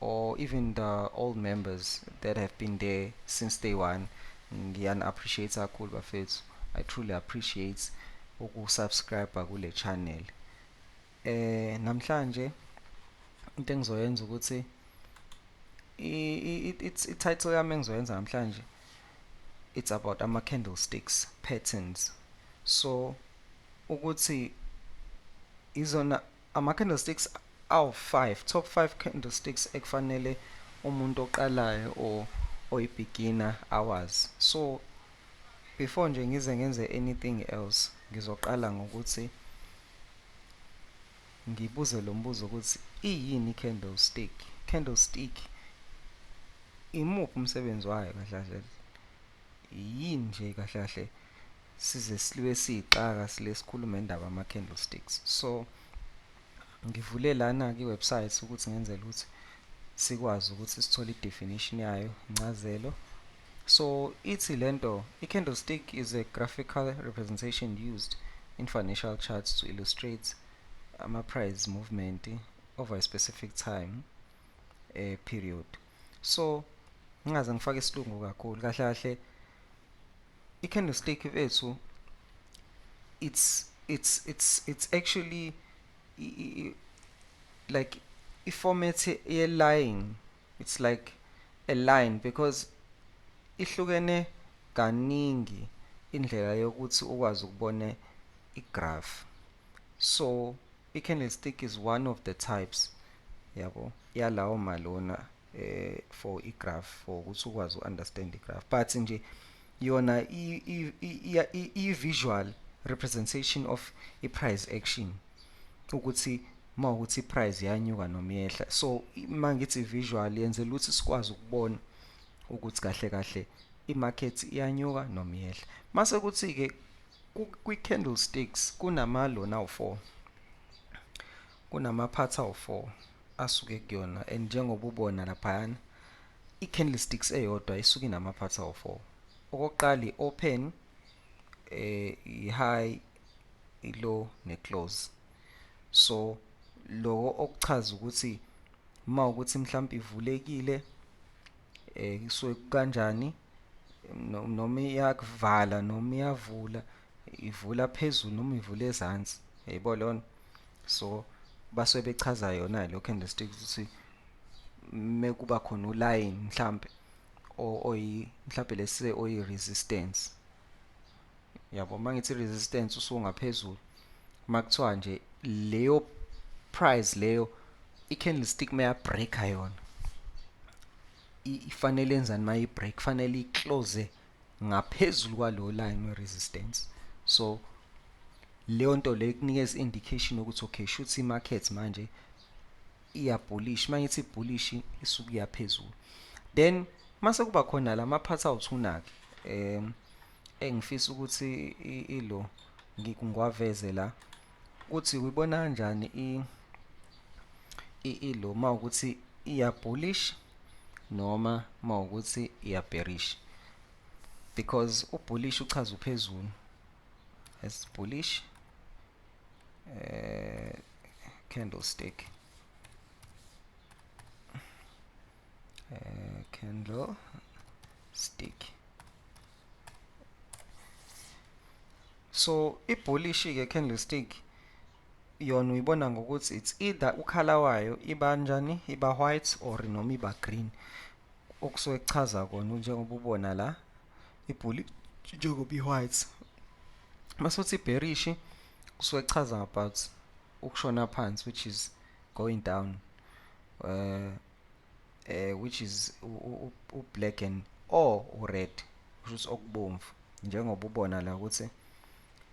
or even the old members that have been there since day one ngiyani appreciate kakhulu bafethu i truly appreciate ukusubscribe kule channel eh namhlanje into engizoyenza ukuthi i-title yami engizoyenza namhlanje it's about ama candlesticks patterns so ukuthi izona Ama candlesticks awu five, top five candlesticks ekufanele umuntu oqalayo or oyi beginner awazi. So before nje ngize ngenze anything else ngizoqala ngokuthi ngibuze lo mbuzo ukuthi iyini candlestick? Candlestick imuphi umsebenzi wayo kahle kahle? Yini nje kahle kahle size siliwe siyixaka sile sikhuluma indaba ama candlesticks so ngivule lana ki website ukuthi ngenzele ukuthi sikwazi ukuthi sithole i definition yayo incazelo so ithi lento i candlestick is a graphical representation used in financial charts to illustrate ama price movement over a specific time uh, period so ngingaze ngifake isilungu kakhulu kahle kahle I candlestick mfethu it's it's it's it's actually i, i, i, like i format ye line it's like a line because ihlukene kaningi indlela yokuthi ukwazi ukubona igraph so i candlestick is one of the types yabo yalawo malona eh for i graph for ukuthi ukwazi u understand i graph but nje yona i visual representation of i price action ukuthi uma ukuthi i price yanyuka noma yehla so uma ngithi visual yenzela ukuthi sikwazi ukubona ukuthi kahle kahle i market iyanyuka noma yehla mase kuthi ke kwi candlesticks kunama lona u4 Kunama-parts awu-four asuke kuyona and njengoba ubona laphayana i-candlesticks eyodwa isuke inama-parts awu-four. Okokuqala i-open, eh i-high, i-low ne-close. So loko okuchaza ukuthi uma ukuthi mhlawumbe ivulekile eh kusuke kanjani noma iyakuvala noma iyavula ivula phezulu noma ivula ezansi yayibo lona so basuke bechaza yona lo candlestick ukuthi mekuba khona uline mhlambe oyi mhlambe lese oyi resistance yabo mangithi resistance usungaphezulu makuthiwa nje leyo price leyo i-candlestick meyabreaka yona ifanele enzani mayibreak kufanele iclose ngaphezulu kwalo line we resistance so leyo nto leyo ikunikeza indication ukuthi okay shuthi i market manje iya bullish mangithi bullish isuku yaphezulu then mase kuba khona lama part awuthuna ke um engifisa ukuthi ilo ngikwaveze la Kuthi uyibona kanjani i i ilo uma ukuthi iya bullish noma uma ukuthi iya bearish because u bullish uchaza uphezulu as bullish eh candlestick uh, candle stick so ibhulishi ke candlestick yona uyibona ngokuthi it's either ukhala wayo iba njani iba white or noma iba green okusuke kuchaza kona njengoba ubona la ibhuli njengoba i-white mase uthi ibherishi kusuke kuchaza about ukushona phansi which is going down uh, uh, which is u-black and or u-red kusho ukuthi okubomvu njengoba ubona la ukuthi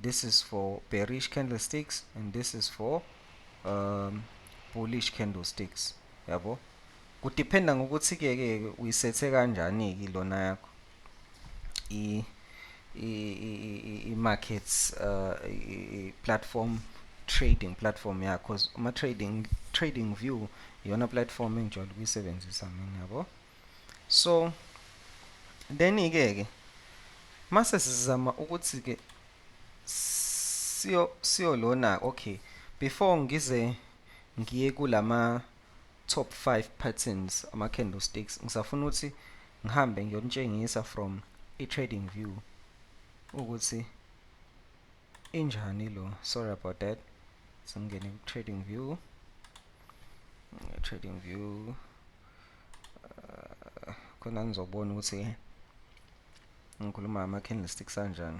this is for bearish candlesticks and this is for um, bullish candlesticks yabo kudiphenda ngokuthi-ke ke uyisethe kanjani-ke lona yakho i i-markets uh, i-platform trading platform yakho cause uma trading trading view iyona platform engijwayele ukuyisebenzisa mina yabo so then ke ke mase sizama ukuthi ke siyo siyo lona okay before ngize ngiye kulama top 5 patterns ama candlesticks ngisafuna ukuthi ngihambe ngiyonitshengisa from i trading view ukuthi injani lo sorry about that singene ku trading view trading view uh, khona ngizobona ukuthi ngikhuluma ama candlesticks anjani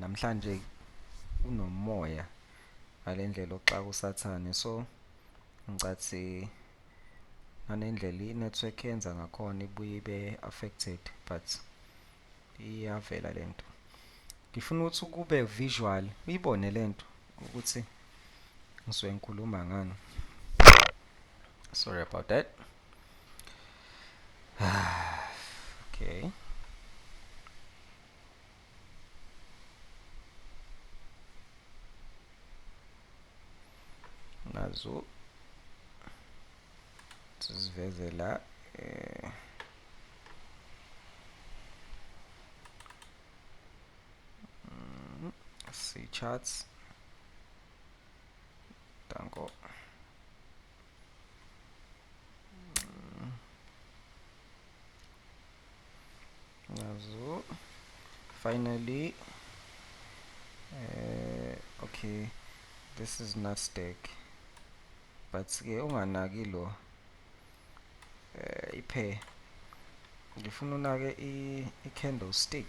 namhlanje unomoya ngalendlela oxaka usathane so ngicathi nganendlela i-network yenza ngakhona ibuye ibe affected but iyavela lento ngifuna ukuthi ukube visual uyibone lento ukuthi ngisuke ngikhuluma ngani sorry about that okay. nazo siziveze la eh mm, see charts danko nazo finally eh okay this is nasdaq but ke unganaki lo eh iphe ngifuna unake i, i candlestick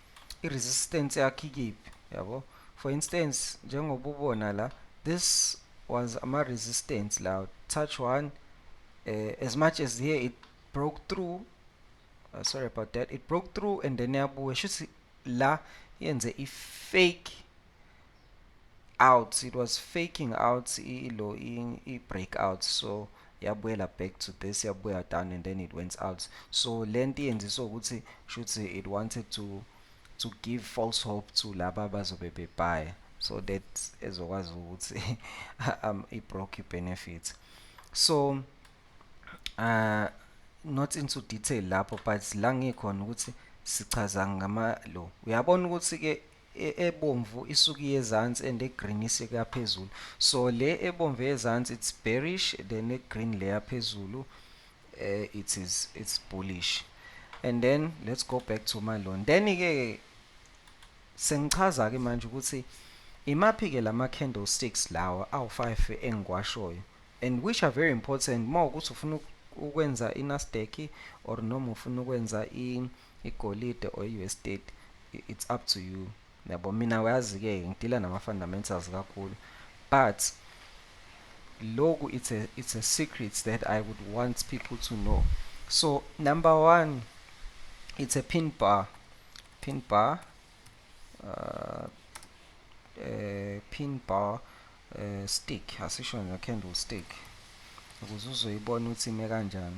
i-resistance yakhe ikiphi yabo for instance njengoba ubona la this was ama-resistance la touch one uh, as much as here it broke through uh, sorry about that it broke through and then yabuya shuthi la yenze i-fake out it was faking out ilo i-breakout so yabuyela back to this yabuya down and then it went out so le nto iyenziswa ukuthi shuthi it wanted to to give false hope to laba bazobe bebhaya so that ezokwazi ukuthi um, i-broke benefit so uh, not into detail lapho but la ngikhona ukuthi sichaza ngama lo uyabona ukuthi-ke ebomvu isuke iyezansi and egreen isika phezulu so le ebomvu eyezansi it's bearish then egreen leya phezulu uh, it is it's bullish and then let's go back to my loan then ke sengichaza ke manje ukuthi imaphi ke lama candlesticks lawa awu 5 engikwashoyo and which are very important uma ukuthi ufuna ukwenza iNasdaq or noma ufuna ukwenza i Igolide or i-Westate it's up to you yabo mina uyazi-ke ngidila nama-fundamentals kakhulu but loku it's a, it's a secret that i would want people to know so number one it's a pin bar pin bar uh, uh, pin bar uh, stick asisho ne-candle stick ukuze uzoyibona ukuthi ime kanjani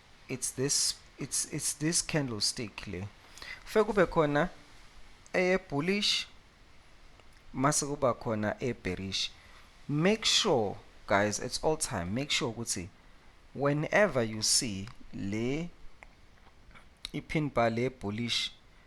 it's this it's it's this candlestick le fe kube khona eye bullish mase kuba khona e bearish make sure guys it's all time make sure ukuthi whenever you see le ipin bar le bullish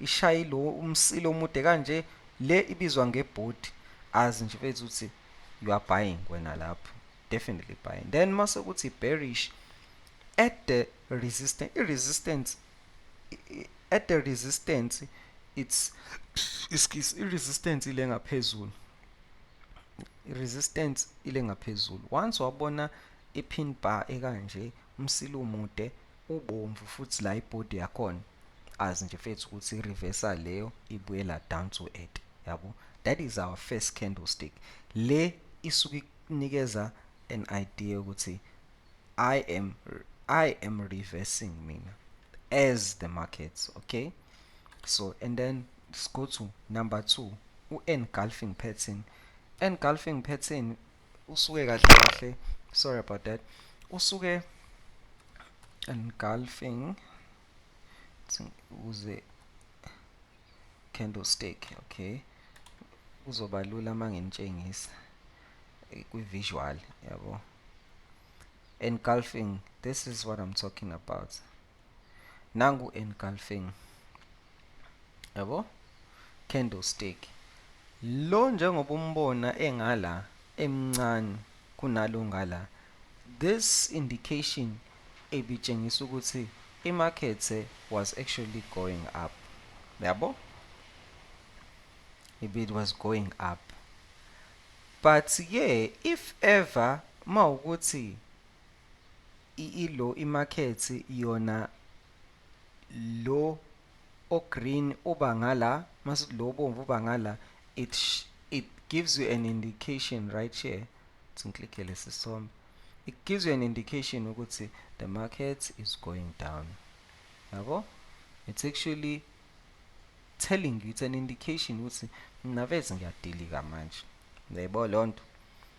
Ishayi lo umsila omude kanje le ibizwa ngebhodi azi nje mfethu ukuthi you are buying wena lapho definitely buying then mase ukuthi bearish at the resistance i resistance at the resistance it's iskis i resistance ile ngaphezulu i resistance ile ngaphezulu once wabona i pin bar ekanje umsila umude ubomvu futhi la ibody yakhona azi nje fethu ukuthi i-reversal leyo ibuyela down to earth yabo that is our first candlestick le isuke ikunikeza an idea ukuthi i am i am reversing mina as the markets okay so and then let's go to number 2 u-engulfing pattern engulfing pattern usuke kahle kahle sorry about that usuke engulfing ukuze candlestick okay kuzoba lula uma nginitshengisa eh, kwi-visual yabo engulfing this is what i'm talking about nangu engulfing yabo candlestick lo njengoba umbona engala emncane kunalo ngala this indication ebitshengisa ukuthi imarket was actually going up yabo it was going up but ke if ever mawukuthi Ilo imarket yona lo o green uba ngala masithi lo obomvu uba ngala it it gives you an indication right here ukuthi ngiklikhe lesi sithombe it gives you an indication ukuthi the market is going down yabo it's actually telling you it's an indication ukuthi mnavezi ngiyadilika manje uyayibona lonto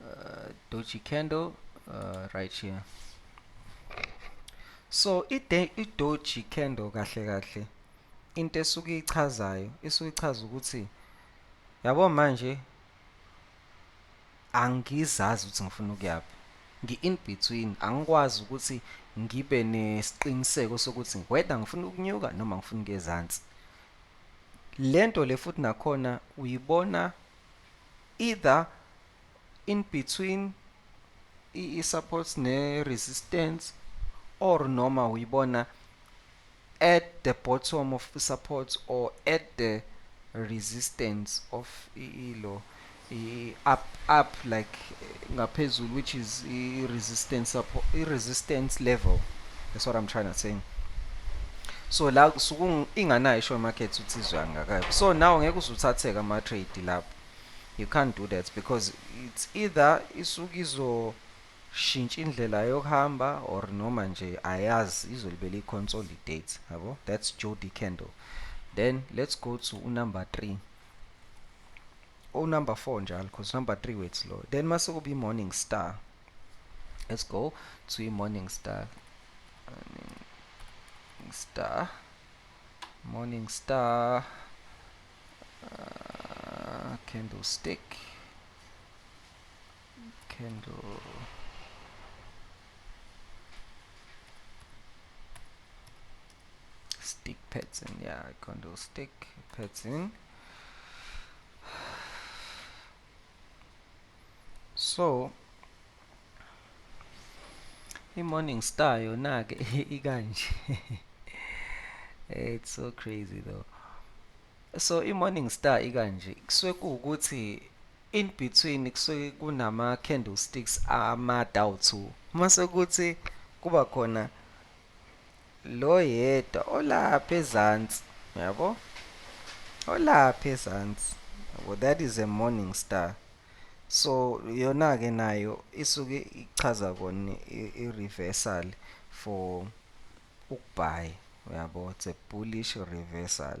uh, doji candle uh, right here so idoji candle kahle kahle into esuke ichazayo isuke ichaza ukuthi yabo manje angizazi ukuthi ngifuna ukuyaphi ngi-in between angikwazi ukuthi ngibe nesiqiniseko sokuthi whether ngifuna ukunyuka noma ngifuna ukuyezansi lento le futhi nakhona uyibona either in between i-supports ne-resistance or noma uyibona at the bottom of the supports or at the resistance of ilo i up up like ngaphezulu which is i resistance i resistance level that's what i'm trying to say so la kusuku inganayo isho market uthi izwa ngakayo so now ngeke uzuthatheke ama trade lapho you can't do that because it's either isuku izo shintsha indlela yokuhamba or noma nje ayazi izolibela i-consolidate yabo that's jody candle then let's go to unumber 3 o number 4 njalo because number 3 wethu lo then mase kuba i-morning star let's go to i-morning star morning star morning star uh, candlestick candle stick pattern yeah candle stick pattern so i-morning star yona-ke ikanje it's so crazy though so i-morning star ikanje kusuke kuwukuthi In between kusuke kunama candle sticks amade awu two. Uma sekuthi kuba khona lo yedwa olapha ezansi, uyabo? Olapha ezansi, uyabo? That is a morning star. So yona ke nayo isuke ichaza kona i-reversal for ukubhayi, uyabo? It's a bullish reversal.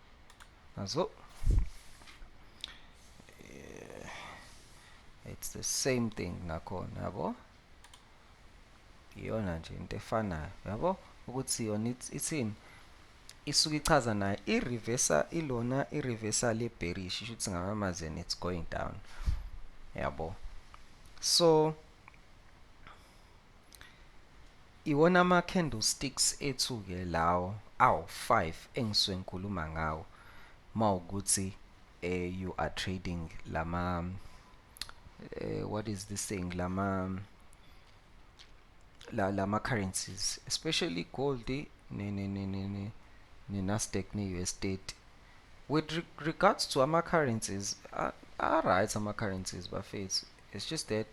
nazo eh, it's the same thing nakhona yabo iyona nje into efanayo yabo ukuthi yona ithini isuke ichaza nayo i-reversal ilona i-reversal ye-bearish isho ukuthi ngamanye amazwi and it's going down yabo so Iwona ama candlesticks ethu ke lawo awu 5 engisuke ngikhuluma ngawo mawukuthi eh, you are trading lama eh, what is this thing lama la lama currencies especially gold ne ne ne ne ne, ne Nasdaq ne US state with regards to ama currencies are right ama currencies bafethu it's just that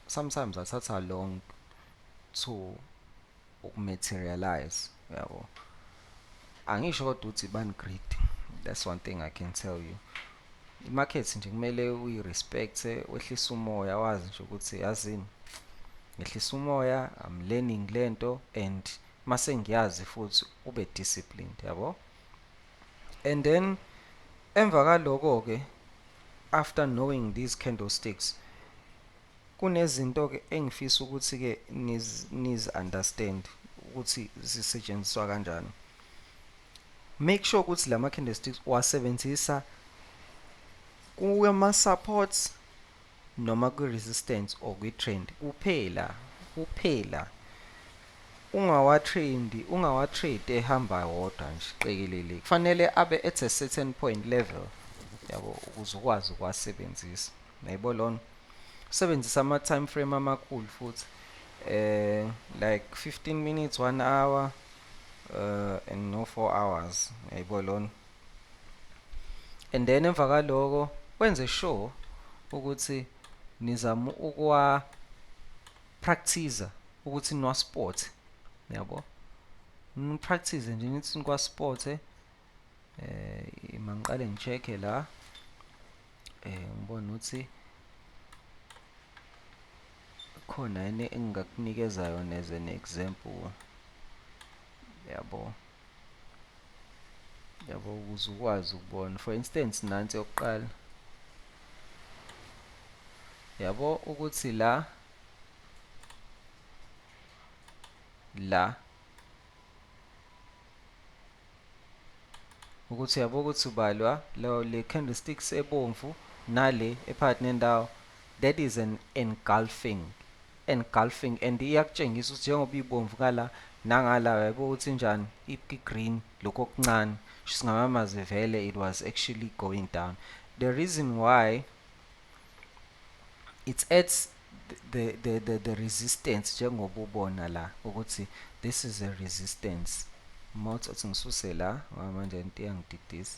sometimes athatha long to ukumaterialize yabo angisho kodwa ukuthi bani greed that's one thing i can tell you imarket nje kumele uyi-respect wehlise umoya wazi nje ukuthi yazini ngehlisa umoya i'm learning lento and mase ngiyazi futhi ube disciplined yabo And then emva kaloko ke after knowing these candlesticks kunezinto ke engifisa ukuthi ke niz niz understand ukuthi zisetshenziswa kanjani make sure ukuthi lama candlesticks wasebenzisa kuma supports noma kwi resistance or kwi trend kuphela kuphela ungawa trend ungawa trade ehamba wodwa nje qekelele kufanele abe at a certain point level yabo ukuze ukwazi ukwasebenzisa nayibo lona usebenzisa ama time frame amakhulu futhi eh like 15 minutes 1 hour uh and no 4 hours yayibo lona and then emva kwaloko wenze sure ukuthi nizama ukuwa practicer ukuthi niwa sport yabo nipractice nje nithi nikwa sport eh mangiqale ngicheke la eh ngibona ukuthi khona yini engingakunikeza yona as an example yabo yabo ukuze ukwazi ukubona for instance nansi yokuqala yabo ukuthi la la ukuthi yabo ukuthi ubalwa lo le candlesticks ebomvu nale ephakathi nendawo that is an engulfing engulfing and iyakutshengisa ukuthi njengoba ibomvu ngala nangala yabo uthi njani i green lokho okuncane singamamaze vele it was actually going down the reason why it adds the the the, the resistance njengoba ubona la ukuthi this is a resistance mouth athi ngisuse la ngoba manje into iyangididisa